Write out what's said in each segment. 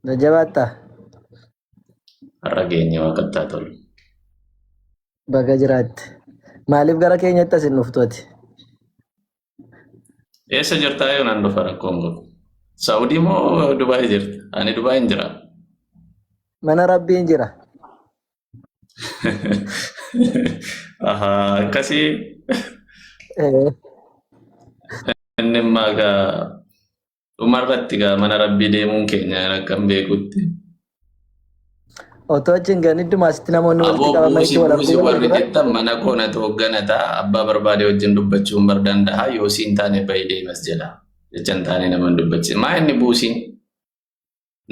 Na jabaattaa? Har'a geenye waaqattaa tolu. Baga jiraatte. Maaliif gara keenyatti as hin dhuftu ati? Eessa jirtaa yoo nan dhufa rakkoon qabu. Saawudii moo Dubaay jirta? Ani Dubaay hin jira. Mana rabbiin jira. Ahaa akkasii Eh, inni immaa egaa Dhuma irratti gaa mana rabbii deemuun keenya akka hin beekutti. Otoo achi hin gahin idduma asitti namoonni walitti Aboo qabaman buusi itti wal buusi arguu warri jettan mana koo natu hoogganata abbaa barbaade wajjin dubbachuun bar danda'a yoo siin taane bayi deemas jedha. Jechan taane nama hin dubbachise. Maa inni buusiin?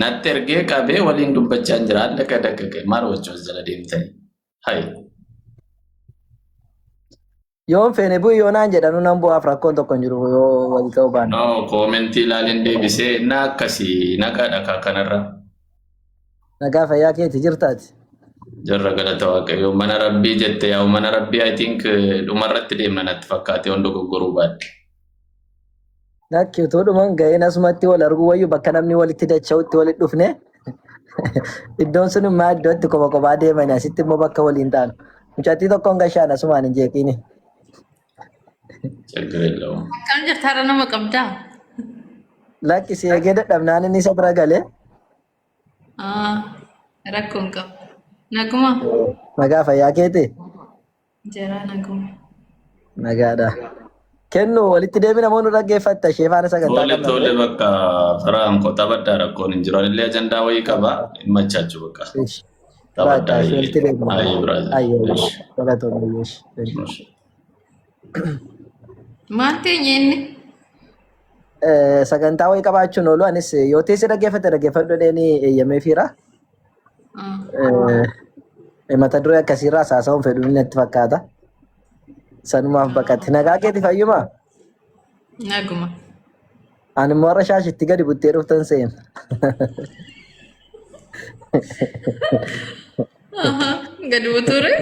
Natti ergee qabee waliin dubbachaa hin jira. Adda akka dakka ka'e maal wajjin as jala deemtanii? Hayi. Yoon feene bu'i yoo naan jedhanu nan bu'aaf rakkoon tokko hin jiru yoo wal ta'uu baanne. No, koomentii ilaalin deebisee na akkasii nagaa dhakaa kanarra. Nagaa fayyaa keeti jirtaati. Jarra galata waaqayyoo mana rabbii jette yaa mana rabbii I think eh, dhumarratti deemna natti fakkaate waan dogoggoruu baadde. Lakki utuu dhuman ga'een asumatti wal arguu wayyu bakka namni walitti dacha'utti walitti dhufne iddoon sun immoo iddoo itti kopha kophaa deeman asitti immoo bakka waliin taanu. Mucattii tokkoon gashaan asumaan hin jeeqiini. Chaggara jedhamu. Akkam jirta har'a nama qabdaa? Lakki si eegee dadhabnaan inni isa bira galee Ah, Rakkoo hin qabu. Naguma. nagaa fayyaa keetii. Jaraa naguma. Nagaadha. Kennu walitti deebina moo nu dhaggeeffatta ishee faana sagantaa Tole qabna tole ture. bakka faraan koo taphadhaa rakkoon hin jiru. Anillee ajandaa wayii qaba. Hin machaachuu bakka. Ish. Bakka Taphadhaa ishee walitti ayyee. deebina. Ayyee biraaza. Ayyee Ish. galatoomna ayyee ish. Thank you. Ish. Maal teenye inni? Eh, Sagantaa wayii qabaachuun oolu anis yoo teessee dhaggeeffatte dhaggeeffadhu dheenii eeyyamee fiira. Eh, mata duree akkasiirraa haasawuun fedhuun natti fakkaata. Sanumaaf baqate. Nagaa keeti fayyuma? Naguma. Ani immoo har'a shaashitti gadi buttee dhuftan seena. Aha, gadi butuure.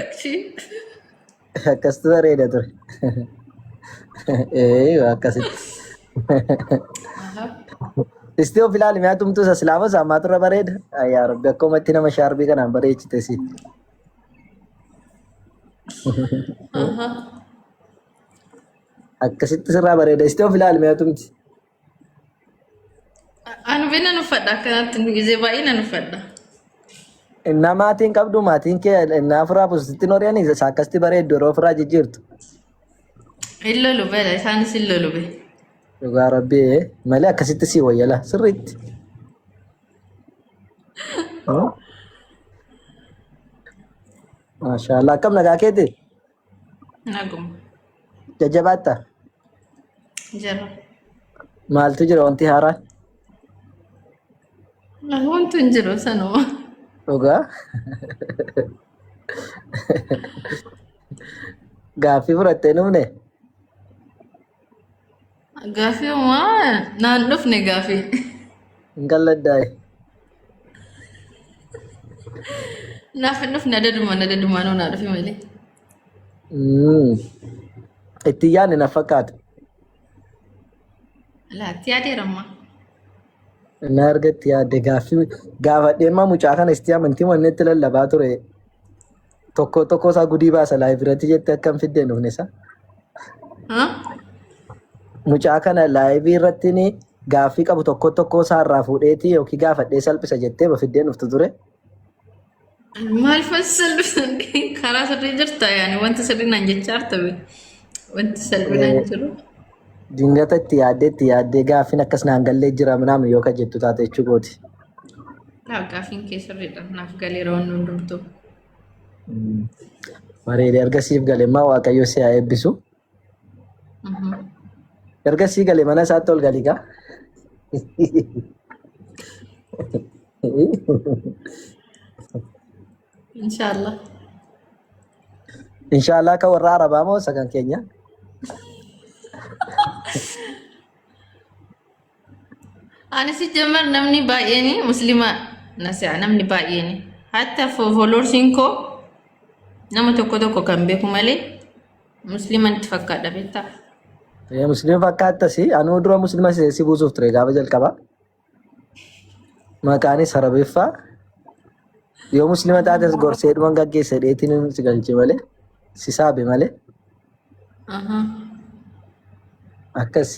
Akkastu bareeda ture. Ee akkasitti. Aha. Isti of ilaali mi'a tumtuu isa silaama isaa ammaa turre bareeda. Yaa rabbi akkuma itti nama shaarbii kanaan bareechite si. Aha. Akkasitti sirraa bareeda. Isti of ilaali mi'a tumti. Anu bina nu fadha akkanatti nu gizee baay'ee nan uffadha. Innaa maatiin qabdu maatiin kee innaa ofirraa buusitti noriyanii isaa akkasitti bareeddu yeroo ofirraa jijjiirtu. Hin lolu bela isaanis hin lolu be. Dhugaa rabbii malee akkasitti sii wayyala sirriitti. Maashaallah akkam nagaa keeti? Naguma. Jajjabaatta? Jira. Maaltu jira wanti haaraa? Wanti hin jiru sanuma. Dhugaa? Gaaffii fudhattee hin dhufne? Gaaffii uumaa naan dhufne gaaffii. Hin galladdaa'e. Naaf hin dhufne adadumaan adadumaan naa dhufe malee. Mm. Itti yaadne na fakkaata. Laatti yaadeeramma. Na argatti yaadde gaaffii gaafadhee immoo mucaa kana isti amantii wanni itti lallabaa ture. Tokko tokko isaa gudii baasa live irratti jette akkam fidde hin dhufne isaa. Haa? Mucaa kana live irratti ni gaaffii qabu tokko tokko isaa irraa fuudheeti yookiin gaafadhee salphisa jettee ba fiddee hin dhuftu ture. Maal fassallu sirrii karaa sirrii jirta yaani wanti sirrii naan jechaa artame wanti salphinaan jiru. Dingata itti yaaddee itti yaaddee gaaffiin akkas naan gallee jira naam yoo ka jettu taate jechuu kooti. Laa gaafiin kee sirriidha. Naaf galeera waan hundumtuu. Bareede erga siif gale immoo waaqayyo si haa eebbisu. Mhm. Erga sii gale mana isaatti ol galii gaa. Inshaallah. Inshaallah akka warra Arabaa moo isa kan keenya? Ani si jammar namni baay'een musliima na se'a namni baay'een. Hatta fooloorsiin koo nama tokko tokko kan beeku malee musliima itti fakkaadha beektaa? Musliima fakkaattasi anuu dura musliima si buusuuf ture gaafa jalqabaa. maqaanis arabeeffaa yoo muslima taates gorsee dhuman gaggeessa dheetiin inni si galche malee si saabe malee Aha. akkas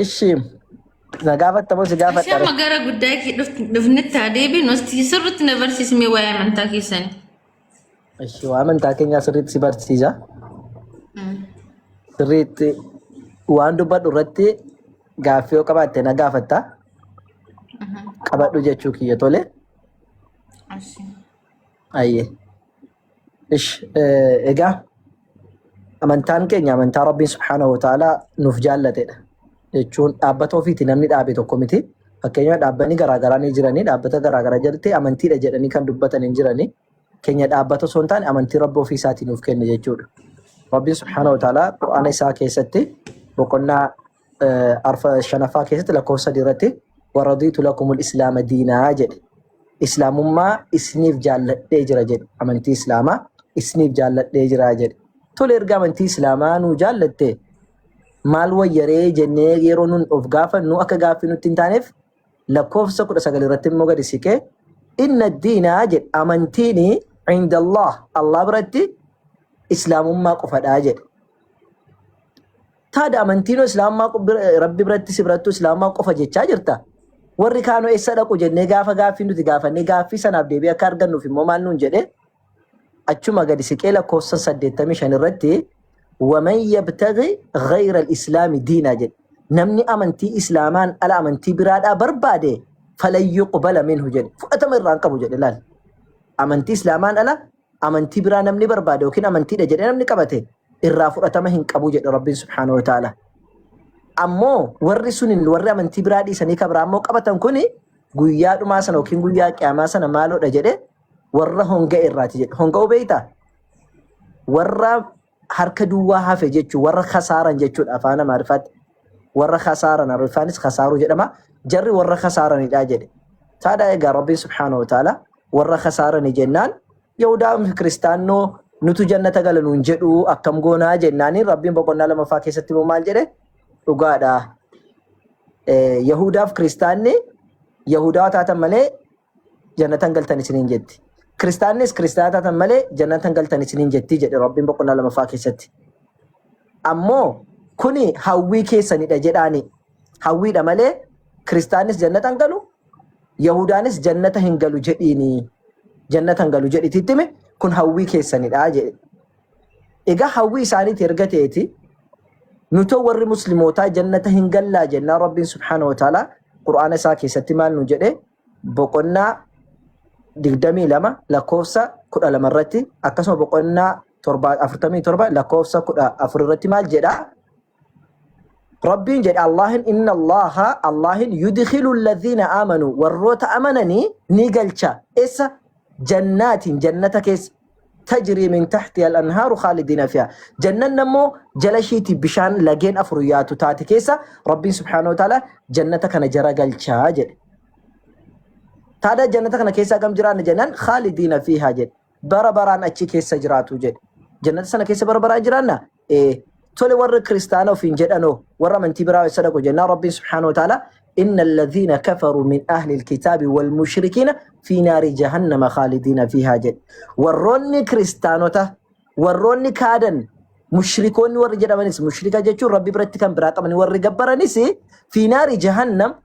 ishi na gaafattamoo si Ishee gaafadha amma gara guddaa kee dhuf- dhufnetti haa deebiin hosti sirriitti na barsiismee waa'ee amantaa keessanii. Ishi waa amantaa keenyaa sirriitti si barsiisa. Sirriitti waan dubbadhu irratti gaaffii yoo qabaatte na gaafatta. Qabadhu jechuu kiyya tole. Ayyee. Ishi egaa Amantaan keenya amantaa Rabbiin subhaanahu wa ta'ala nuuf jaallatedha. Jechuun dhaabbata ofiiti namni dhaabe tokko miti. Fakkeenyaaf dhaabbanni garaagaraa ni jiranii dhaabbata garaagaraa jalatti amantiidha jedhanii kan dubbatan hin jiranii. Keenya dhaabbata osoo hin taane amantii Rabbi ofii isaatii nuuf kenne jechuudha. Rabbiin subhaanahu wa ta'ala Qur'aana isaa keessatti boqonnaa arfa shanaffaa keessatti lakkoofsa sadii irratti waradiitu lakumul islaama diinaa jedhe islaamummaa isiniif jaalladhee jira jedhe amantii islaamaa isiniif jaalladhee jira jedhe tole erga amantii islaamaa nuu jaallatte maal wayyaree jennee yeroo nun of gaafannu akka gaaffii nutti hin taaneef lakkoofsa kudha sagal irratti immoo gadi siqee inna diinaa jedhe amantiin indallah allah biratti islaamummaa qofadhaa jedhe Taada amantiinoo islaamummaa qo- bira- rabbi biratti si birattuu islaamummaa qofa jechaa jirta. Warri kaanoo eessa dhaqu jennee gaafa gaaffii nuti gaafannee gaaffii sanaaf deebii akka argannuuf immoo maal nuun jedhee achuma gadi siqee lakkoofsa 85 irratti waman yabtaghi ghayra al-islaami diinaa jedhe namni amantii islaamaan ala amantii biraadhaa barbaade falan yuqbala minhu jedhe fudhatama irraa hin qabu jedhe laal amantii islaamaan ala amantii biraa namni barbaade yookiin amantiidha jedhee namni qabate irraa fudhatama hin qabu jedhe Rabbiin subhaanahu wa ta'ala. Ammoo warri suniin warri amantii biraa dhiisanii kabraa ammoo qabatan kuni guyyaa dhumaa sana yookiin guyyaa qiyaamaa sana maaloodha jedhe warra honga irraati jedhe. Honga beektaa? Warra harka duwwaa hafe jechuun warra kasaaran jechuudha afaan amaariffaatti warra kasaaran ariffaanis kasaaruu jedhama jarri warra kasaaranidha jedhe taadhaa egaa rabbiin subhaanahu wa ta'ala warra kasaarani jennaan yahudaa fi kiristaannoo nutu jannata gala nuun jedhu akkam goonaa jennaaniin rabbiin boqonnaa lamaffaa keessatti immoo maal jedhe dhugaadha Eh, yahudaaf kiristaanni yahudaa taatan malee jannatan galtan isiniin jetti. Kiristaannis kiristaana taatan malee jannatan galtan isiniin jetti jedhe Rabbiin boqonnaa lamaffaa keessatti. Ammoo kuni hawwii keessanidha jedhaani. Hawwiidha malee kiristaannis jannata hin galu, Yahudaanis jannata hin galu jedhiini. Jannata hin galu jedhiti ittime kun hawwii keessanidha jedhe. Egaa hawwii isaaniiti erga ta'eeti nutoo warri muslimootaa jannata hin gallaa jennaan Rabbiin subhaanahu wa ta'ala Qur'aana isaa keessatti maal nu jedhe boqonnaa 22 lakkoofsa 12 irratti akkasuma boqonnaa 47 lakkoofsa 14 irratti maal jedha Rabbiin jedhe Allaahin inna Allaaha Allaahin yudkhilu alladhiina aamanuu warroota amananii ni galcha essa jannaatiin jannata keessa tajrii min tahtiha al-anhaaru khaalidiina fiha jannanni ammoo jala ishiitii bishaan lageen afur yaatu taate keessa Rabbiin subhaanahu wa ta'ala jannata kana jara galcha jedhe taada jannata kana keessa gam jiraanna jennaan khaalidiina fiha jedhe bara baraan achi keessa jiraatu jedhe. Jannata sana keessa bara baraan jiraanna? Ee. Tole warra kiristaana ofiin jedhanoo warra amantii biraa eessa dhaqu jennaan Rabbiin subhaanahu wa ta'ala inna alladhiina kafaruu min ahli alkitaabi wal mushrikiina fi naari jahannama khaalidiina fiihaa jedhe. Warroonni kiristaanota warroonni kaadan mushrikoonni warri jedhamanis mushrika jechuun rabbi biratti kan biraa qabanii warri gabbaranis fi naari jahannam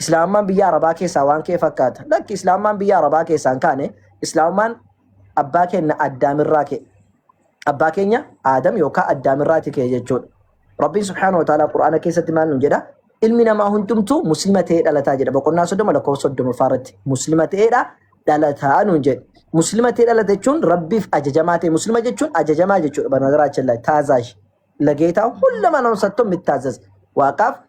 Islaamummaan biyya Arabaa keessaa waan ka'e fakkaata. Lakki Islaamummaan biyya Arabaa keessaa hin kaane Islaamummaan abbaa keenya Addaamirraa ka'e. Abbaa keenya Aadam yookaan Addaamirraati ka'e jechuudha. Rabbiin subhaanahu wa ta'aalaa Qur'aana keessatti maal nuun jedha? Ilmi namaa hundumtuu muslima ta'ee dhalataa jedha. Boqonnaa soddoma lakkoofsa soddomaffaa irratti muslima ta'eedha dhalataa nuun jedhe. Muslima ta'ee dhalata jechuun Rabbiif ajajamaa ta'e. Muslima jechuun ajajamaa jechuudha. Banagaraachilla taazaash lageetaa hulla manamsattoon mittaazaz waaqaaf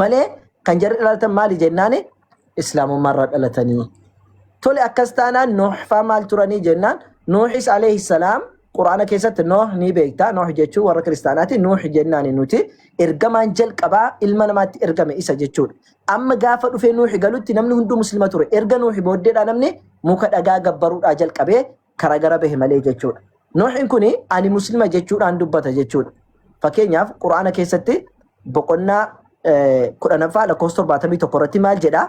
malee kan jarri dhalatan maali jennaani islaamummaa irraa dhalatanii tole akkas taanaan nuuxfaa maal turanii jennaan nuuxis alayhi salaam quraana keessatti nooh ni beektaa nooh jechuun warra kiristaanaati nuux jennaani nuti ergamaan jalqabaa ilma namaatti ergame isa jechuudha amma gaafa dhufee nuuxi galutti namni hunduu muslima ture erga nuuxi booddeedha namni muka dhagaa gabbaruudhaa jalqabee kara gara bahe malee jechuudha. Nuuhin kuni ani muslima jechuudhaan dubbata jechuudha. Fakkeenyaaf Qur'aana keessatti boqonnaa eh, kudhanaffaa lakkoofsa torbaatamii tokko irratti maal jedha?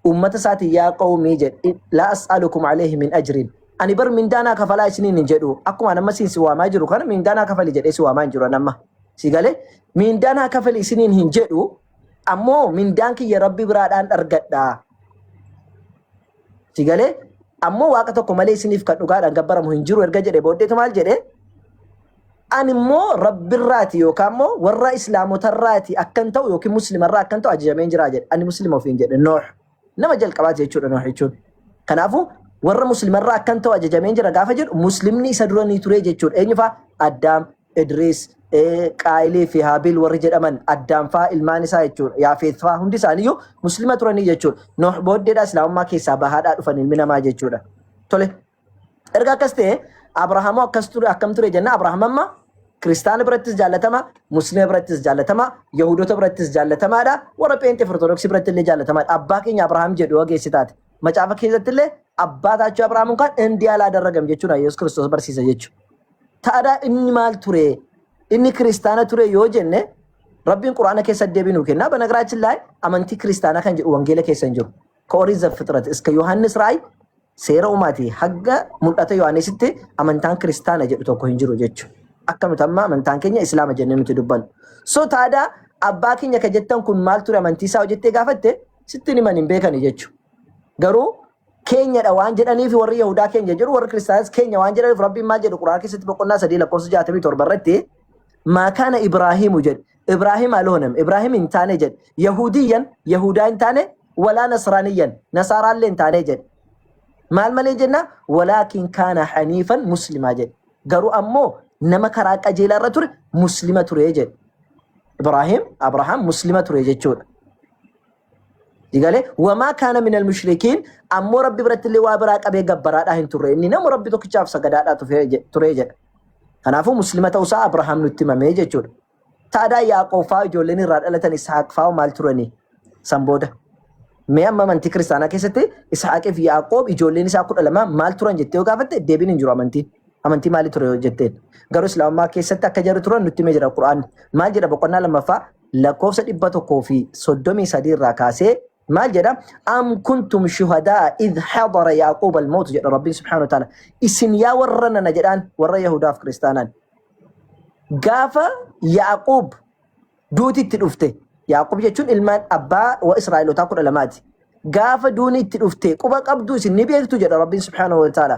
Uummata isaatiin yaa qawmii jedhe laa as'alukum alayhi min ajrin. Ani bar mindaanaa kafalaa isiniin hin jedhu. Akkuma amma siin si waamaa jiru kana mindaanaa kafali jedhee si waamaa hin jiru amma. Si galee mindaanaa kafali isiniin hin jedhu ammoo mindaan kiyya rabbi biraadhaan argadha. Si galee ammoo waaqa tokko malee isiniif kan dhugaadhaan gabbaramu hin jiru erga jedhe booddeetu maal jedhe ani immoo rabbirraati yookaan immoo warra islaamotarraati akkan ta'u yookiin muslimarraa akkan ta'u ajajameen jira jedhe ani muslima ofiin jedhe nooh nama jalqabaati jechuudha nooh jechuun kanaafuu warra muslimarraa akkan ta'u ajajameen jira gaafa jedhu muslimni isa duranii turee jechuudha eenyufaa addaam Idriis, Qaayilii fi Haabiil warri jedhaman Addaam faa ilmaan isaa jechuudha. Yaafeet faa hundi isaaniiyyuu Muslima turanii jechuudha. Nooh booddeedha Islaamummaa keessaa bahaadhaa dhufan ilmi namaa jechuudha. Tole. Erga akkas ta'e Abrahaamoo akkas ture akkam ture jenna Abrahaam amma Kiristaana birattis jaallatama, Muslima birattis jaallatama, Yahudoota birattis jaallatamaadha, warra Pheenxee fi Ortodoksii biratti illee jaallatamaadha. Abbaa keenya Abrahaam jedhu ogeessi taate. Macaafa keessatti illee abbaa taachuu Abrahaam kan Indiyaa laa darragam jechuudha Yesuus Kiristoos barsiisa jechuudha. Taadaa inni maal ture? Inni kiristaana ture yoo jenne Rabbiin Qur'aana keessa deebii nuu kenna. Banagiraachi laay amantii kiristaanaa kan jedhu wangeela keessa hin jiru. Ka Orii Zafixrat iska Yohaannis Raay seera uumaati hagga mul'ata Yohaannisitti amantaan kiristaana jedhu tokko hin jiru jechuudha. Akka nuti amma amantaan keenya islaama jennee nuti dubbannu. So taadaa abbaa keenya ka jettan kun maal ture amantii isaa hojjettee gaafatte sittiin himan hin beekani jechuudha. Garuu keenya dha waan jedhaniif warri Yahudaa keenya jedhu warri Kiristaanas keenya waan jedhaniif Rabbiin maal jedhu Qur'aan keessatti boqonnaa sadii lakkoofsa jaatamii torba irratti maa kaana Ibraahiimu jedhe Ibraahim aloonem Ibraahim hin taane jedhe Yahudiyyan Yahudaa hin taane walaa Nasraaniyyan Nasaaraallee hin taane jedhe maal malee jenna walaakin kaana haniifan muslimaa jedhe garuu ammoo nama karaa qajeelaa irra ture muslima ture jedhe Ibraahim Abrahaam muslima ture jechuudha Digale wamaa kaana minal mushrikiin ammoo rabbi biratti illee waa biraa qabee gabbaraadhaa hin turre inni nama rabbi tokkichaaf sagadaadhaa tufee je- ture jedha. Kanaafuu muslima ta'uusaa Abrahaam nutti himamee jechuudha. Taadaa Yaaqoob fa'aa ijoolleen irraa dhalatan Isaaq fa'aa maal turanii san booda. Mee amma amantii kiristaanaa keessatti Isaaqii fi Yaaqoob ijoolleen isaa kudha lama maal turan jettee yoo gaafatte deebiin hin jiru amantiin. Amantii maalii ture yoo jetteen. Garuu Islaamummaa keessatti akka jarri turan nutti himee jira Qur'aan. Maal jedha boqonnaa lammaffaa lakkoofsa 133 irraa kaasee maal jedha am kuntum shuhadaa id hadara yaaquub almawtu jedha rabbiin subhaanahu wa ta'ala isin yaa warra nana jedhaan warra yahudaaf kiristaanaan gaafa yaaquub duuti itti dhufte yaaquub jechuun ilmaan abbaa wa israa'elotaa kudha lamaati gaafa duuni itti dhufte quba qabdu isin ni beektu jedha rabbiin subhaanahu wa ta'ala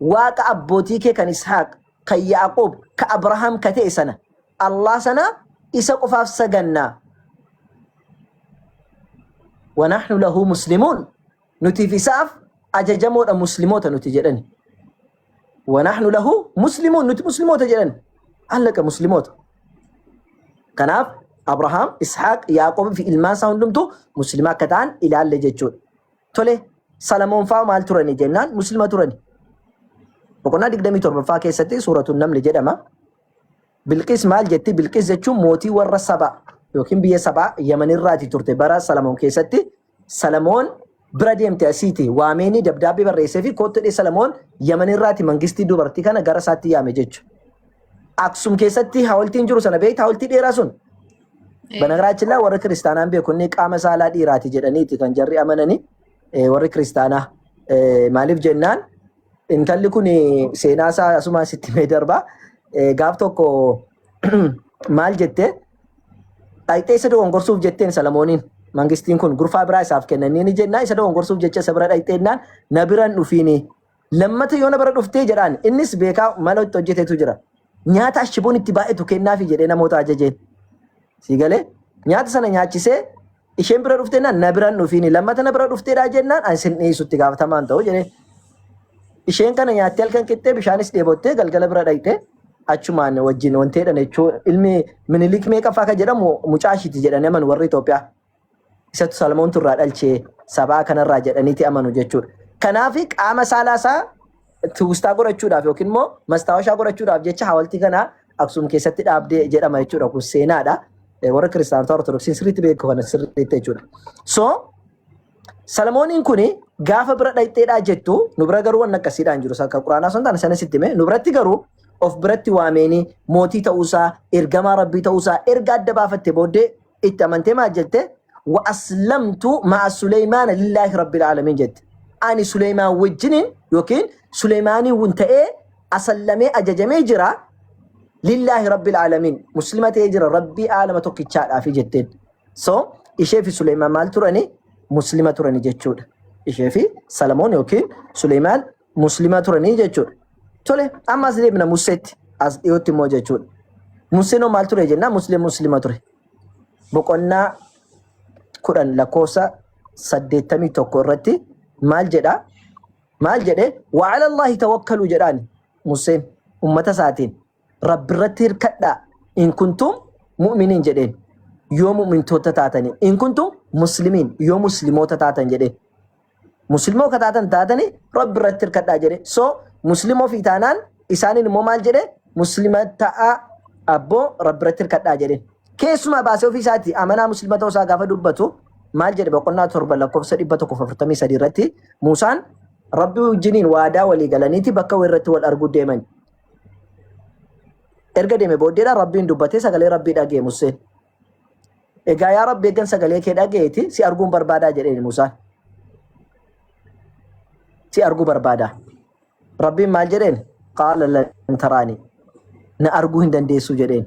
Waaqa abbootii kee kan Ishaaq, kan Yaaqoob, ka Abrahaam ka ta'e sana, Allah sana isa qofaaf saganna. Wa nahnu lahu muslimuun. Nutiif isaaf ajajamoodha muslimoota nuti jedhani. Wa nahnu lahu muslimuun nuti muslimoota jedhani. Allaqa muslimoota. Kanaaf Abrahaam, Ishaaq, Yaaqoob fi ilmaan isaa hundumtuu muslimaa akka ta'an ilaalle jechuudha. Tole Salamoon fa'aa maal turani jennaan muslima turani. Boqonnaa 27ffaa keessatti suuratuun namni jedhama. Bilqis maal jetti? Bilqis jechuun mootii warra saba yookiin biyya sabaa Yamanirraati turte bara Salamoon keessatti. Salamoon bira deemte asiiti waameenii dabdaabbii barreessee fi koottodhee Salamoon Yamanirraati mangistii dubartii kana gara isaatti yaame jechuudha. Aksum keessatti hawaltiin jiru sana beekta hawaltii dheeraa sun Banagaraachillaa warri kiristaanaan beeku inni qaama saalaa dhiiraati jedhaniiti kan jarri amananii eh, warri kiristaanaa Eh, maaliif jennaan intalli kun seenaa isaa asumaan sitti mee darbaa Eh, gaaf tokko maal jettee dhayxee isa dogongorsuuf jetteen Salamooniin mangistiin kun gurfaa biraa isaaf kennanii ni jennaa isa dogongorsuuf jecha isa bira dhayxeennaan na biran dhufiini Lammata yoona bara dhuftee jedhaan. Innis beekaa maloo itti hojjetetu jira. Nyaata ashiboon itti baay'atu kennaafi jedhee namoota ajajeen. Sii galee? Nyaata sana nyaachisee isheen bira dhuftee naan na biran dhufiini lammata na bira dhufteedhaa jennaan ani sin dhiyeessu itti gaafatamaan ta'u jedhee. Isheen kana nyaattee halkan qixxee bishaanis dheebottee galgala bira dhaqxee achumaan wajjin wanteedhan jechuun ilmi minilik meeqaffaa akka jedhamu mucaa ishiiti jedhanii aman warri Itoophiyaa. Isatu Salmoontu irraa dhalche sabaa kanarraa jedhaniiti amanu jechuudha. Kanaaf qaama saalaa isaa tuustaa godhachuudhaaf yookiin immoo mastaawashaa godhachuudhaaf jecha hawaltii kana Aksuum keessatti dhaabdee jedhama jechuudha. Kun seenaadha. Eh, Warra kiristaanotaa ortodoksiin sirriitti beeku kana sirriitti jechuudha. So Salmooniin kun gaafa bira dhaqxeedhaa jettu nu bira garuu waan akkasiidhaan jiru akka quraanaa sun taane sana sitti hime nu biratti garuu of biratti waameenii mootii ta'uusaa ergamaa rabbii ta'uusaa erga adda baafatte booddee itti amantee maal jette wa aslamtu ma'a suleymaana lillaahi rabbil aalamiin jette ani suleymaan wajjiniin yookiin suleymaanii wun ta'ee asallamee ajajamee jira lillaahi rabbil aalamiin muslima ta'ee jira rabbii aalama tokkichaadhaafi jetteen so ishee fi suleymaan maal turani muslima turani jechuudha ishee fi salamoon yookiin suleymaan Muslima turanii jechuudha. Tole amma as deebina Museetti as dhiyootti immoo jechuudha. Museen hoo maal ture jennaa Musliin Muslima ture. Boqonnaa kudhan lakkoofsa saddeettamii tokko irratti maal jedhaa? Maal jedhee? Wa'ala Allahi tawakkaluu jedhaani Museen ummata isaatiin. Rabbi irratti hirkadhaa in kuntum mu'miniin jedheen yoo mu'mintoota taatanii in kuntum muslimiin yoo muslimoota taatan jedheen muslimoo ka taatan taatanii rabbi irratti hirkadhaa jedhe so muslimoo fi taanaan isaaniin immoo maal jedhe muslima ta'aa abboo rabbi irratti hirkadhaa jedhe keessumaa baasee ofii isaati amanaa muslima ta'uu isaa gaafa dubbatu maal jedhe boqonnaa torba lakkoofsa dhibba tokko afurtamii sadii irratti muusaan rabbi wajjiniin waadaa walii galaniiti bakka irratti wal arguu deeman erga deeme booddeedha rabbiin dubbatee sagalee rabbii dhaga'e museen egaa yaa rabbi eeggan sagalee kee dhaga'eeti si arguun barbaadaa jedheen musaan si arguu barbaadaa rabbiin maal jedheen qaala lan taraanii na arguu hin dandeessuu jedheen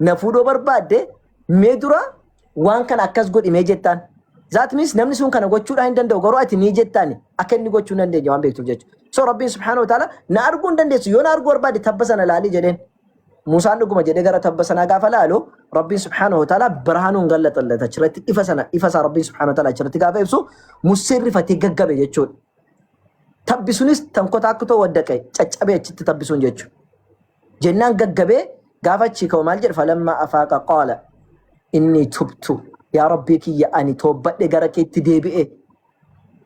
na fuudhoo barbaadde mee dura waan kana akkas godhi mee jettaan. Zaat miis namni sun kana gochuudhaan hin danda'u garuu ati ni jettaan akka inni gochuu hin dandeenye waan beektuuf jechuudha. So rabbiin subhaanahu wa ta'ala na arguu hin dandeessu yoo na arguu barbaadde tabba sana laali jedheen. Muusaan dhuguma jedhee gara tabba sanaa gaafa laalu rabbiin subhaanahu wa ta'ala birhaanuun gallaxallata achirratti ifa sana ifa isaa rabbiin subhaanahu wa ta'ala achirratti gaafa ibsu Museen rifatee gaggabe jechuudha. Tabbi sunis tankotaa akka ta'u waddaqe caccabee achitti tabbi sun jechuudha. jennaan gaggabee gaafa achii ka'u maal jedhe falammaa afaaqa qaala inni tubtu yaa rabbii kiyya ani toobbadhe gara keetti deebi'e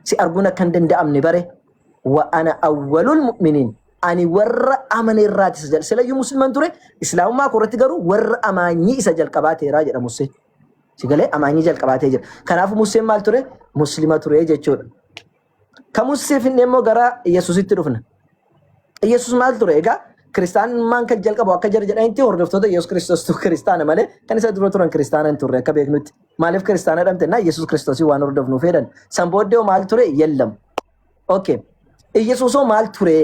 si arguun akka hin danda'amne bare wa ana awwalul mu'miniin ani warra amane irraati isa jal silayyuu musliman ture islaamummaa koo irratti garuu warra amaanyii isa jalqabaateeraa jedha Musee. Sigalee amaanyii jalqabaatee jira. Kanaafuu Museen maal ture? Muslima ture jechuudha. Kamussee finnee immoo gara Yesuusitti dhufna. Yesuus maal ture? Egaa kiristaanummaan kan jalqabu akka jara jedhanitti hordoftoota Yesuus Kiristoostu kiristaana malee kan isa dura turan kiristaana hin turre akka beeknutti. Maaliif kiristaana dhamte? Naa Yesuus Kiristoosii waan hordofnu fedhan. San booddee maal ture? Yellam. Okay. Yesuusoo maal ture?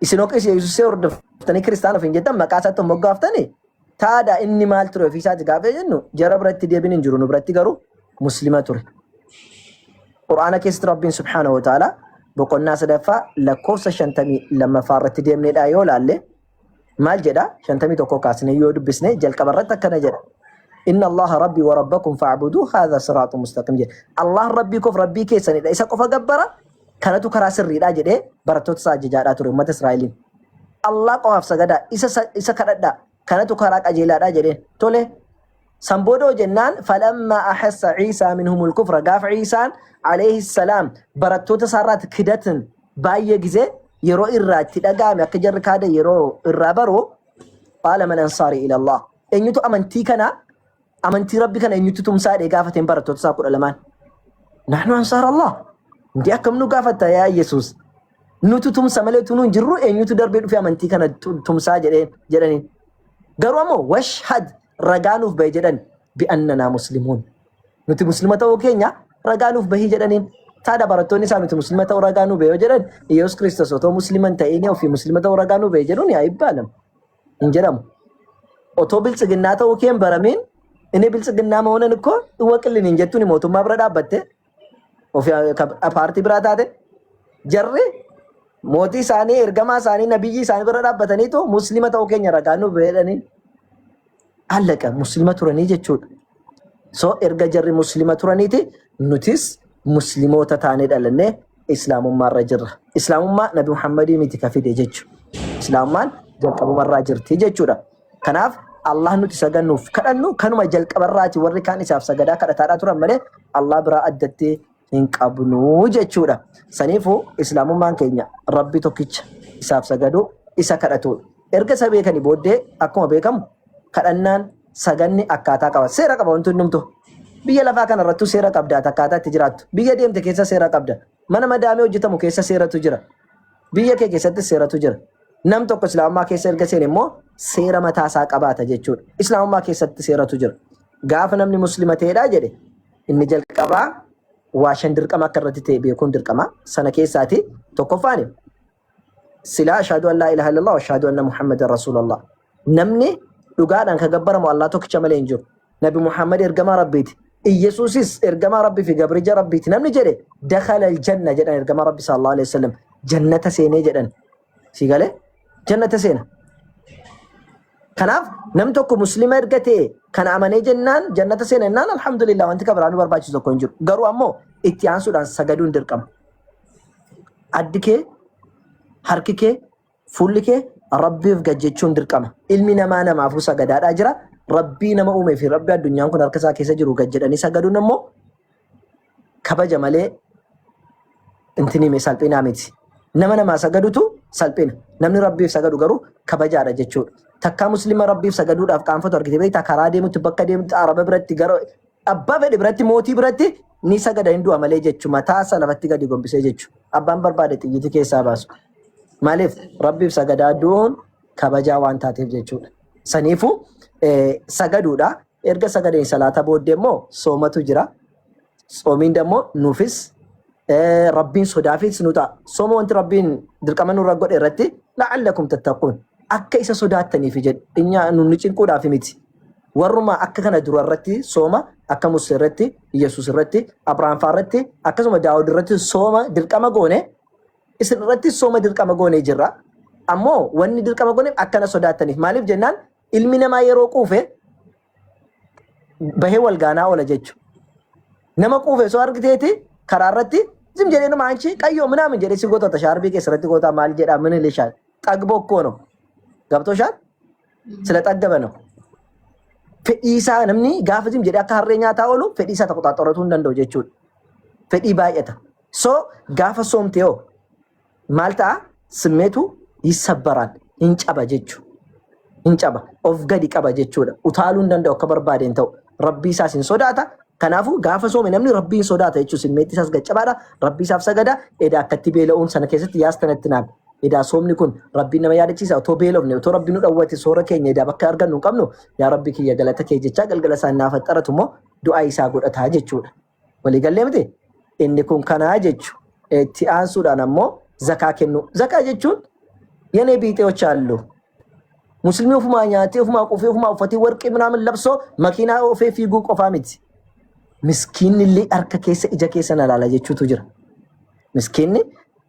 Isin ogeessa Yesuusee hordoftanii kiristaana ofiin jettan maqaa isaatti hin moggaaftanii taada inni maal ture ofii isaati gaafee jennu jara biratti deebiin hin jiru nu biratti garuu muslima ture. Qur'aana keessatti Rabbiin subhaanahu wa ta'ala boqonnaa sadaffaa lakkoofsa shantamii lammaffaa irratti deemneedha yoo laalle maal jedha shantamii tokko kaasnee yoo dubbisne jalqaba irratti akkana jedha. Inna Allaha Rabbii wa Rabbakum fa'buduu haadha siraatu mustaqim jedha. Allah Rabbii koof Rabbii keessanidha isa qofa gabbara Kanatu karaa sirriidhaa jedhee barattoota isaa ajajaadhaa ture uummata Israa'eliin. Allah qofaaf sagadaa isa sa- isa kadhadhaa kanatu karaa qajeelaadhaa jedheen. Tole san booda hoo jennaan falammaa ahassa Ciisaa minhumul kufra gaafa Ciisaan alayhi salaam barattoota isaarraatti kidatan baay'ee gizee yeroo irraa itti dhaga'ame akka jarri kaada yeroo irraa baru qaala man ansaarii ilallah eenyutu amantii kana Amantii Rabbi kana eenyutti tumsaa jedhee gaafateen barattoota isaa kudha lamaan. Naannoo ansaar Allah. Inti akkam nu gaafatta yaa Yesuus. Nutu tumsa malee utuu nu hin jirru eenyutu darbee dhufee amantii kana tu- tumsaa jedhee jedhaniin. Garuu ammoo washhad ragaa nuuf bahi jedhan bi'annanaa muslimuun. Nuti muslima ta'uu keenya ragaa nuuf bahi jedhaniin. Taada barattoonni isaa nuti muslima ta'uu ragaa nuuf bahi yoo jedhan Yesuus Kiristoos otoo muslima hin ta'inii ofii muslima ta'uu ragaa nuuf bahi jedhuun yaa ibbaalama. hin jedhamu otoo biltsiginnaa ta'uu kee hin baramiin inni biltsiginnaa mahonan ikko iwaqillin hin jettuun mootummaa bira dhaabbatte ofi paartii biraa taate jarri mootii isaanii ergamaa isaanii nabiyyii isaanii bira dhaabbataniitu muslima ta'uu keenya ragaa nuuf jedhanii Allaqa muslima turanii jechuudha. So erga jarri muslima turaniiti nutis muslimoota taanee dhalannee islaamummaarra jirra. Islaamummaa Nabi Muhammadii miti ka fide jechuudha. Islaamummaan jalqabumarraa jirti jechuudha. Kanaaf Allah nuti sagannuuf kadhannu kanuma jalqabarraati warri kaan isaaf sagadaa kadhataadhaa turan malee Allah biraa addatti hin qabnu jechuudha. Saniifuu islaamummaan keenya rabbi tokkicha isaaf sagaduu isa kadhatuudha. Erga isa beekanii booddee akkuma beekamu kadhannaan saganni akkaataa qaba. Seera qaba wanti hundumtu. Biyya lafaa kana irrattuu seera qabda ati akkaataa itti jiraattu. Biyya deemte keessa seera qabda. Mana madaamee hojjetamu keessa seeratu jira. Biyya kee keessatti seeratu jira. Nam tokko islaamummaa keessa erga seene immoo seera mataa isaa qabaata jechuudha. Islaamummaa keessatti seeratu jira. Gaafa namni muslima ta'edha jedhe Inni jalqabaa waa shan dirqama akka irratti ta'e beekuun dirqama. Sana keessaati tokkoffaan silaa ashhadu an laa ilaaha illallah wa ashhadu anna muhammadan rasuulallah. Namni dhugaadhaan kan gabbaramu Allah tokkicha malee hin jiru. Nabi Muhammad ergamaa Rabbiiti. Iyyasuusis ergamaa Rabbii fi gabrija Rabbiiti. Namni jedhe dakhala aljanna jedhan ergamaa Rabbi sallallahu alaihi wasallam jannata seenee jedhan. Si galee jannata seena. Kanaaf nam tokko muslima erga ta'e kana amanee jennaan jannata seena jennaan alhamdulillah wanti kabiraa nu barbaachisu tokko hin jiru. Garuu ammoo itti aansuudhaan sagaduun dirqama. Addi kee, harki kee, fuulli kee rabbiif gad jechuun dirqama. Ilmi namaa namaafuu sagadaadhaa jira. Rabbii nama uumee fi rabbi addunyaan kun harka isaa keessa jiru gad jedhanii sagaduun ammoo kabaja malee intini me salphinaa miti. Nama namaa sagadutu salphina. Namni rabbiif sagadu garuu kabajaadha jechuudha. Takkaa muslima rabbiif sagaduudhaaf qaanfatu argite beektaa karaa deemutti bakka deemutti araba biratti gara abbaa fedhe biratti mootii biratti ni sagada hin du'a malee jechu mataa isaa lafatti gadi gombisee jechu abbaan barbaade xiyyitii keessaa baasu. Maaliif rabbiif sagadaa du'uun kabajaa waan taateef jechuudha. Saniifuu eh, sagaduudha. Erga sagaleen salaataa booddee immoo soomatu jira. Tsoomiin immoo nuufis eh, rabbiin sodaafis nu ta'a. Sooma wanti rabbiin dirqama nurra godhe irratti la'allakum tattaquun akka isa sodaattaniif jedhe inya nu nu cinquudhaaf miti. Warruma akka kana dura irratti sooma akka Musee irratti, Yesuus irratti, Abrahaam fa'aa irratti akkasuma Daawud irratti sooma dirqama goone isin irratti sooma dirqama goonee jirra. Ammoo wanni dirqama gooneef akkana sodaattaniif maaliif jennaan Ilmi namaa yeroo quufe bahee wal gaanaa oola jechu. Nama quufe soo argiteeti karaa irratti zim jedhee nama anchi qayyoo minaamin jedhee si gootota shaarbii keessa irratti gootaa maal jedhaa mini lishaan xagboo koo no. Gabtoo shaan sila xaggaba no. Fedhii isaa namni gaafa zim jedhee akka harree nyaataa oolu fedhii isaa tokko xaxxoratuu hin danda'u jechuudha. Fedhii baay'ata. So gaafa soomtee hoo maal ta'a simmeetu yissabbaraan hin caba jechu hin caba of gadi qaba jechuudha utaaluu hin danda'u akka barbaade hin ta'u rabbii isaas hin sodaata kanaafu gaafa soome namni rabbii hin sodaata jechuu simmeetti isaas gaccabaadha rabbii isaaf sagada edaa akkatti beela'uun sana keessatti yaastanatti naan edaa soomni kun rabbii nama yaadachiisa otoo beelofne otoo rabbii nu dhawwate soora keenya edaa bakka argannu hin qabnu yaa rabbii kiyya galata kee jechaa galgala isaa naaf axxaratu immoo du'aa isaa godhataa jechuudha. Walii gallee miti? Inni kun kanaa jechu. Itti aansuudhaan ammoo zakaa kennuu. Zakaa jechuun yenee biixeewoch haallu. Muslimii ofumaa nyaatee, ofumaa qufee, ofumaa uffatee, warqii minaamin labsoo, makiinaa ofee fiiguu qofaa miti. Miskiinni illee harka keessa ija keessa na laala jechuutu jira. Miskiinni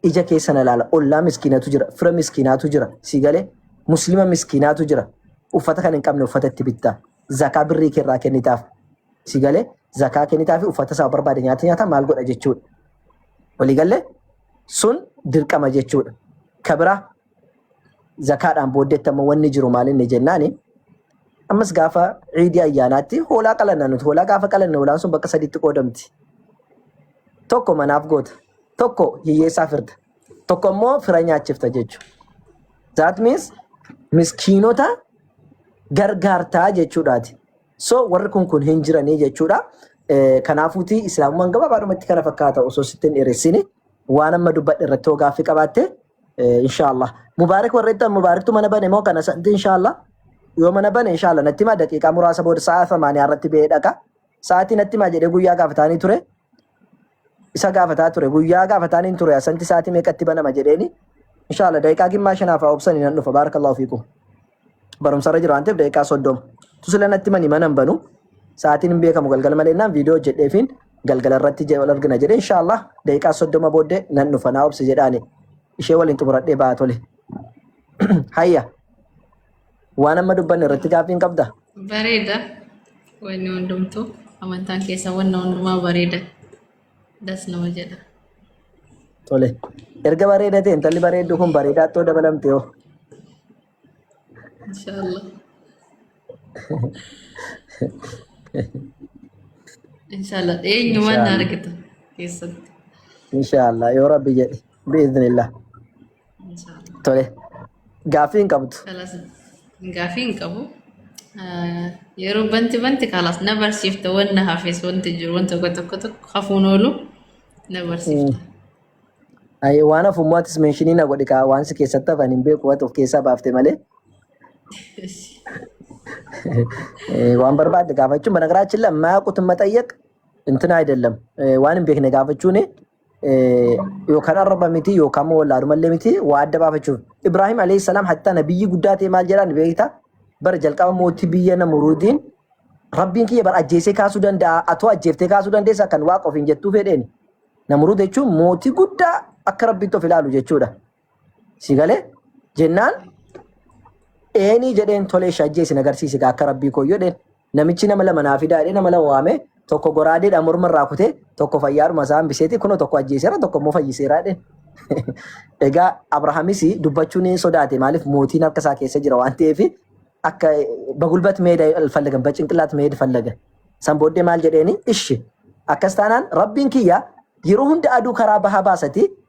ija keessa na laala. Ollaa miskiinatu jira. Fira miskiinaatu jira. Sii galee muslima miskiinaatu jira. Uffata kan hin qabne uffata itti bittaa. zakaa birrii kee irraa kennitaaf si galee zakaa kennitaa fi uffata isaa barbaade nyaata nyaata maal godha jechuudha. Walii galee sun dirqama jechuudha. Ka biraa zakaadhaan booddeetti ammoo wanni jiru maal inni jennaani ammas gaafa ciidii ayyaanaatti hoolaa qalanna nuti hoolaa gaafa qalanne hoolaan sun bakka sadiitti qoodamti. Tokko manaaf goota tokko hiyyeessaa firda tokko immoo fira nyaachifta jechuudha. That means miskiinota gargaartaa jechuudhaati. So warri kun kun hin jiranii jechuudha. Eh, Kanaafuuti islaamummaan gabaabaadhumatti kana fakkaata osoo sitti hin dheeressine waan amma dubbadhe irratti hoo gaaffii qabaatte eh, inshaallah. Mubaarik warra ittan mubaariktu mana bane moo kana santi inshaallah. Yoo mana bane inshaallah natti himaa daqiiqaa muraasa booda sa'a samaaniyaa irratti ba'ee dhaqa. Sa'aatii natti himaa jedhee guyyaa gaafataanii ture. isa gaafataa ture guyyaa gaafataan hin ture asanti sa'aatii meeqatti banama jedheeni inshaalla daqiiqaa gimmaa shanaaf haa obsani nan dhufa baarakallahu fiikum barumsarra jira waan ta'eef daqiiqaa soddoma tusila natti mani mana hin banu sa'aatiin hin beekamu galgala malee naan viidiyoo hojjedheefiin galgala irratti je- wal argina jedhe inshaalla daqiiqaa soddoma booddee nan dhufa naa obsi jedhaani ishee waliin xumuradhee ba'a tole hayya Waan amma dubbanne irratti gaaffii hin qabda? Bareeda. Wanni hundumtuu amantaan keessa wanna hundumaa bareeda. Das nama jedha. Tole. Erga bareeda ta'e intalli bareeddu kun bareedaa too dabalamte hoo. Inshaallah. Inshaallah. Eenyumaan na Inshaallah. argitu keessatti. Inshaallah yoo rabbi jedhe biiznillah. Tole. Gaaffii hin qabdu. Kalas gaafii hin qabu. Ah, Yeroo banti banti kalas na barsiifta wanna hafes wanti jiru wanta tokko tokko tokko hafuun oolu na barsiifta. Ayi waan hafummaatis meeshinii na godhi kaa waan si keessatti hafan hin beeku waan of keessaa baafte malee Eh, waan barbaadde gaafachuun bana garaachin lammaa qutumma xayyaq intina ayidallam waan hin beekne gaafachuun yookaan arraba miti yookaan immoo wallaaluma illee miti waa adda baafachuuf. Ibraahim alayhi salaam hattaa nabiyyi guddaa ta'e maal jedhaan beekta? Bara jalqaba mootii biyya Namuruudiin rabbiin kiyya bara ajjeesee kaasuu danda'a atoo ajjeeftee kaasuu dandeessa kan waaqa ofiin jettuu fedheen. Namuruud jechuun mootii guddaa akka rabbiitti of ilaalu jechuudha. Si galee jennaan eenii jedheen tolee shajjee isin agarsiisi gaa akka rabbii koo jedheen namichi nama lama naa fidaa jedhee nama lama waamee tokko goraadeedha morma irraa kutee tokko fayyaadhuma isaa hambiseeti kunoo tokko ajjeeseera tokko immoo fayyiseera jedheen. Egaa Abrahaamis dubbachuu ni sodaate maaliif mootiin harka isaa keessa jira waan ta'eef akka bagulbat meeda fallagan bacinqilaat meeda fallagan. San booddee maal jedheeni ishi akkas taanaan rabbiin kiyya yeroo hunda aduu karaa bahaa baasati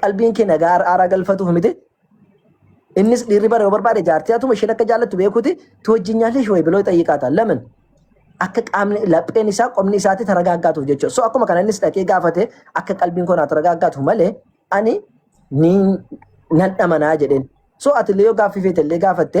qalbiin kee nagaa ar'aaraa galfatuuf miti. Innis dhiirri bara yoo barbaade jaartii hatuma isheen akka jaallattu beekuuti tu wajjin nyaallee shawee biloo xayyiqaata. Lamin akka qaamni lapheen isaa qomni isaatti taragaaggaatuuf jechuudha. So akkuma kana innis dhaqee gaafate akka qalbiin koo naa taragaaggaatu malee ani ni nan dhamanaa jedheen. So ati illee yoo gaaffii feete illee gaafatte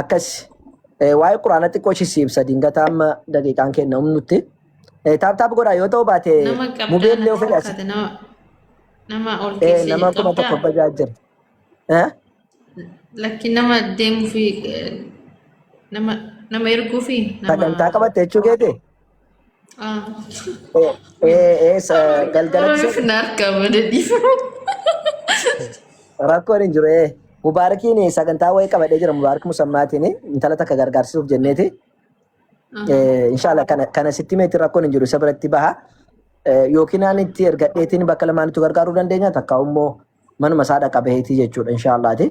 akkas waa'ee quraana xiqqoo ishii si ibsa dingata amma daqiiqaan kenna humnutti taap taap godhaa yoo ta'u baate Nama qabdaa mubeen natti illee ofirraa si fakkaate nama nama ol Eh, keessee nama kuma qabdaa tokko bajaa jira. Eh? lakki nama deemuu fi eh, nama nama erguu fi nama Sagantaa qabatte jechuu keeti? Galgalatti Of narka madadi. rakkoon hin jiru. ee. Mubaarakiin sagantaa wayii qabadhee jira. Mubaarak Musammaatiin intala takka gargaarsisuuf jenneeti. Inshaallah kana kana sitti meetti rakkoon hin jiru isa biratti baha. Yookiin ani itti ergadheetiin bakka lamaanitti gargaaruu dandeenya takka immoo manuma isaa dhaqa baheetii jechuudha inshaallaati.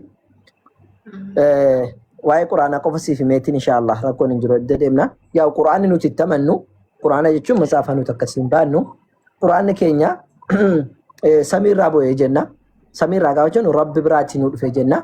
Waa'ee quraanaa qofa siif himeetiin inshaallah rakkoon hin jiru edda deemna. Yaa quraanni nuti itti amannu quraana jechuun matsaafa nuti akkasii hin baannu quraanni keenya samiirraa bu'ee jenna samiirraa gaafa jennu rabbi biraatii nu dhufee jenna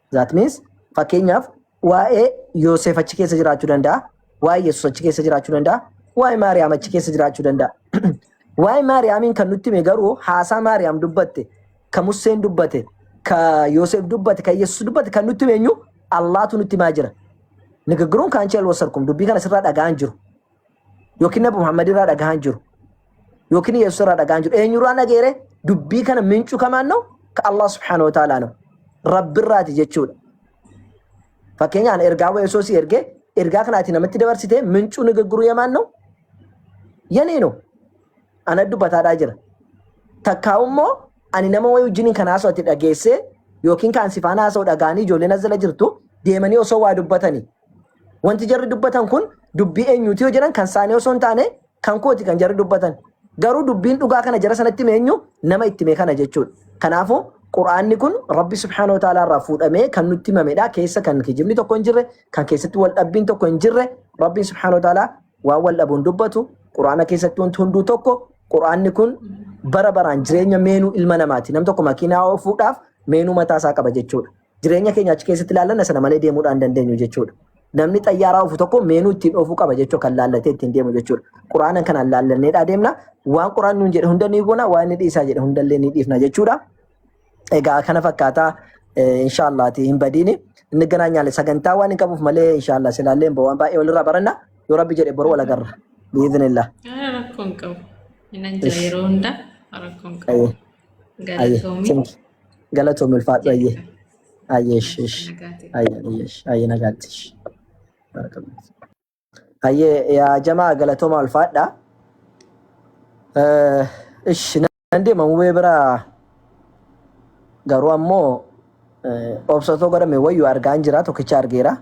That means fakkeenyaaf waa'ee Yooseef achi keessa jiraachuu danda'a, waa'ee Yesuus achi keessa jiraachuu danda'a, waa'ee Maariyaam achi keessa jiraachuu danda'a. Waa'ee Maariyaamiin kan nutti hime garuu haasaa Maariyaam dubbatte, ka Museen dubbate, ka Yooseef dubbate, ka Yesuus dubbate kan nutti hime eenyu Allaatu nutti himaa jira. Nigiggiruun kaanchee alwasarkum dubbii kana sirraa dhaga'an jiru. Yookiin Nabi Muhammad irraa dhagahaa hin jiru. Yookiin Yesuus irraa dhagahaa hin jiru. Eenyurraa dhageere dubbii kana mincu kamaan noo ka Allah subhaanahu wa ta'ala noo. Rabbirraati jechuudha. Fakkeenyaan ergaa wa Yesuus ergee ergaa kanaati namatti dabarsitee mincuu ni gagguruu yamaan noo. Yanee noo. Ana dubbataadhaa jira. Takkaa immoo ani nama wayii wajjiniin kan haasoo ati dhageessee yookiin kan si faana haasoo dhagaanii ijoolleen as jala jirtu deemanii osoo waa dubbatanii Wanti jarri dubbatan kun dubbii eenyuuti yoo jedhan kan isaanii osoo hin taane kan kooti kan jarri dubbatan. Garuu dubbiin dhugaa kana jara sanatti hime eenyu nama itti hime kana jechuudha. Kanaafuu Qur'aanni kun Rabbi subhaanahu wa ta'aalaa irraa fuudhamee kan nutti himamedha. Keessa kan kijibni tokko hin jirre, kan keessatti wal dhabbiin tokko hin jirre, Rabbiin subhaanahu wa ta'aalaa waan wal dhabuun dubbatu, Qur'aana keessatti wanti hunduu tokko, Qur'aanni kun bara baraan jireenya meenuu ilma namaati. Nam tokko makiinaa oofuudhaaf meenuu mataa isaa qaba jechuudha. Jireenya keenya achi keessatti ilaallanna sana malee deemuudhaan hin dandeenyu jechuudha. Namni xayyaaraa ofu tokko meenuu ittiin oofuu qaba jechuu kan laallatee ittiin deemu jechuudha. Quraanan kanaan laallanneedhaa deemna. Waan quraan nuun jedhe hunda ni goona, waan inni dhiisaa jedhe hundallee ni dhiifna jechuudha. Egaa kana fakkaataa inshaallaati hin badiini. Inni ganaa nyaale sagantaa waan hin qabuuf malee inshaallah silaallee waan baay'ee walirraa baranna. Yoo rabbi jedhe boru wal agarra. Biizinillah. Rakkoon qabu. Inni jira yeroo hunda rakkoon qabu. Galatoomi. Thank you. Galatoomi ulfaadhu ayyee. Ayyee ish ish. Nagaati. Ayyee ayyee ish. Ayyee nagaatti ish. Barakallahu. Ayyee yaa jamaa galatooma ulfaadha. Eh, Ish nan deema mubee bira garuu ammoo eh, obsatoo godhame wayyu argaan jira tokkicha argeera.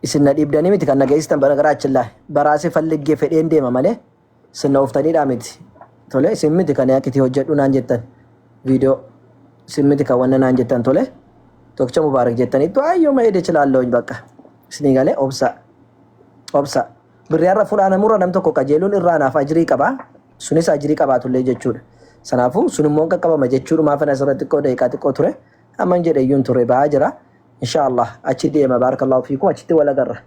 Isin na dhiibdanii miti kan na geessitan bara gara achillaa baraasee falliggee fedheen deema malee. Sinna oftadhiidhaa miti. Tole sin miti kan akka itti hojjedhu naan jettan viidiyoo sin miti kan wanna naan jettan tole tokkicha mubaarak jettaniittu ayyuma ede chilaalloony bakka isinii galee obsa obsa birri har'a funaanamurra nam tokko qajeeluun irraa naaf ajrii qaba sunis ajrii qabaatullee jechuudha sanaafuu sun immoo qaqqabama jechuudhumaa fana asirra xiqqoo daqiiqaa xiqqoo ture amman jedhe iyyuun ture ba'aa jira inshaallah achi deema baarakallahu fiikum achitti walagarra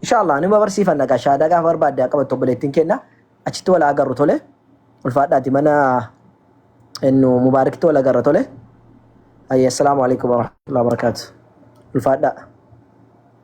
Inshaallah nima barsiifanna gaa shaadaa gaafa barbaadde haa qabattu obboleettiin keenna achitti wal haa agarru tole ulfaadhaati mana ennu mubaarikti wal agarra tole. Ayya assalaamu alaikum warahmatullahi wabarakatuh. Ulfaadhaa.